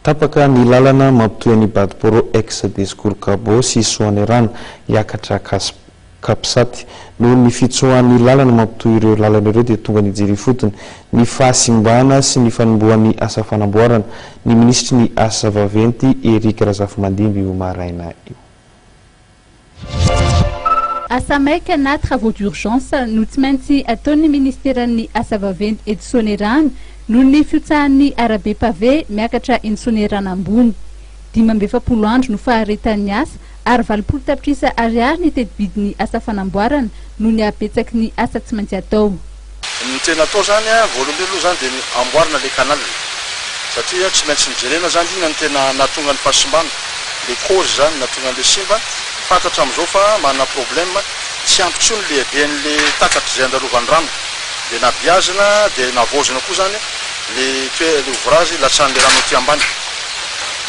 Tapaka ny lalana mampitohy an'i Badiporo ex Besikoro Gabo sy Soanierana hiakatra Cas Capsat. Noho ny fitsoahan'ny lalana mampitohy ireo lalana ireo dia tonga nijery ifotony ny fahasimbana sy ny fanombohan'ny asa fanamboarana ny minisitry ny asa vaventy Eric Razafimandimby io maraina io. Asa maika na travaux d'urgence no tsy maintsy ataon'ny ministeran'ny asa vaventy eto Soanierana noho ny fihotsahan'ny arabe pavé miakatra eny Soanierana ambony. Dimy amby efapolo andro no faharetan'ny asa ary valopolo tapitrisa ariary ny tetibidin'ny asa fanamboarana noho ny habetsaky ny asa tsy maintsy atao. Ny tena atao zany a, voalohany indrindra aloha zany dia ny amboarina ilay canal, satria tsy maintsy nojerena zany inona no tena nahatonga ny fahasimbana, ilay cause zany nahatonga an'ilay simba, fantatra amin'izao fa manana problème, tsy ampy intsony ny lehiben'ilay takatra izay andalovany rano, dia nabeazina dia navaozina koa zany ilay toe- ilay ouvrage hilatsahan'ilay rano aty ambany,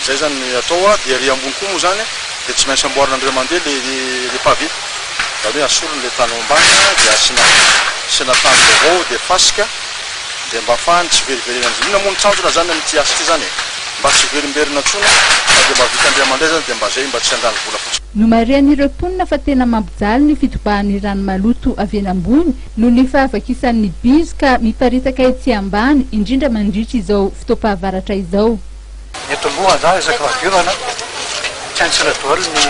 izay zany ny atao a, dia ery ambony koa moa zany dia tsy maintsy amboarina indray mandeha ilay pavé. izany hoe asoriny ilay tany ao ambany dia asiana asiana tany vaovao dia fasika dia mba afahany tsy veriverenany, inoana moa ny tanjona izany amin'ity asa ity izany e? mba tsy hiverimberina intsony fa dia mba vita indray aman-dray izany dia mba izay mba tsy handany vola fotsiny. Nomarihan'ireo mponina fa tena mampijaly ny fitobahan'ny rano maloto avy eny ambony noho ny fahavakisany ny bizo ka miparitaka etsy ambany indrindra mandritra izao fotoam-pahavaratra izao. Eto moa angaha isaky fahadiovana tsy haintsika daholo ny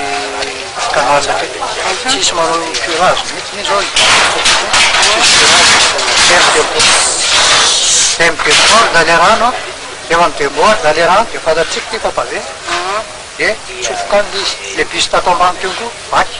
canal aty. Tsy hisy manao curage mihitsy ny zao dia midebouche ndray ilay rano an, rehefa midebouche ndray ilay rano dia fantatsika ity fa pavé dia tsofoka any ilay izy, ilay bus tato ambany teo koa vaky.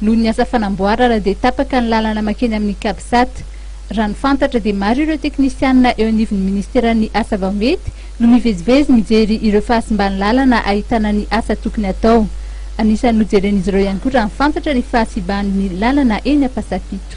Noho ny asa fanamboarana dia tapaka ny lalana makeny amin'ny Capsat. Raha ny fantatra dia maro ireo teknisianina eo anivon'ny ministeran'ny asa vao mety no mivezivezy mijery ireo fahasimban'ny lalana ahitana ny asa tokony atao. Anisan'ny nojeren'izy ireo ihany koa raha ny fantatra ny fahasiban'ny lalana eny Ampasapito.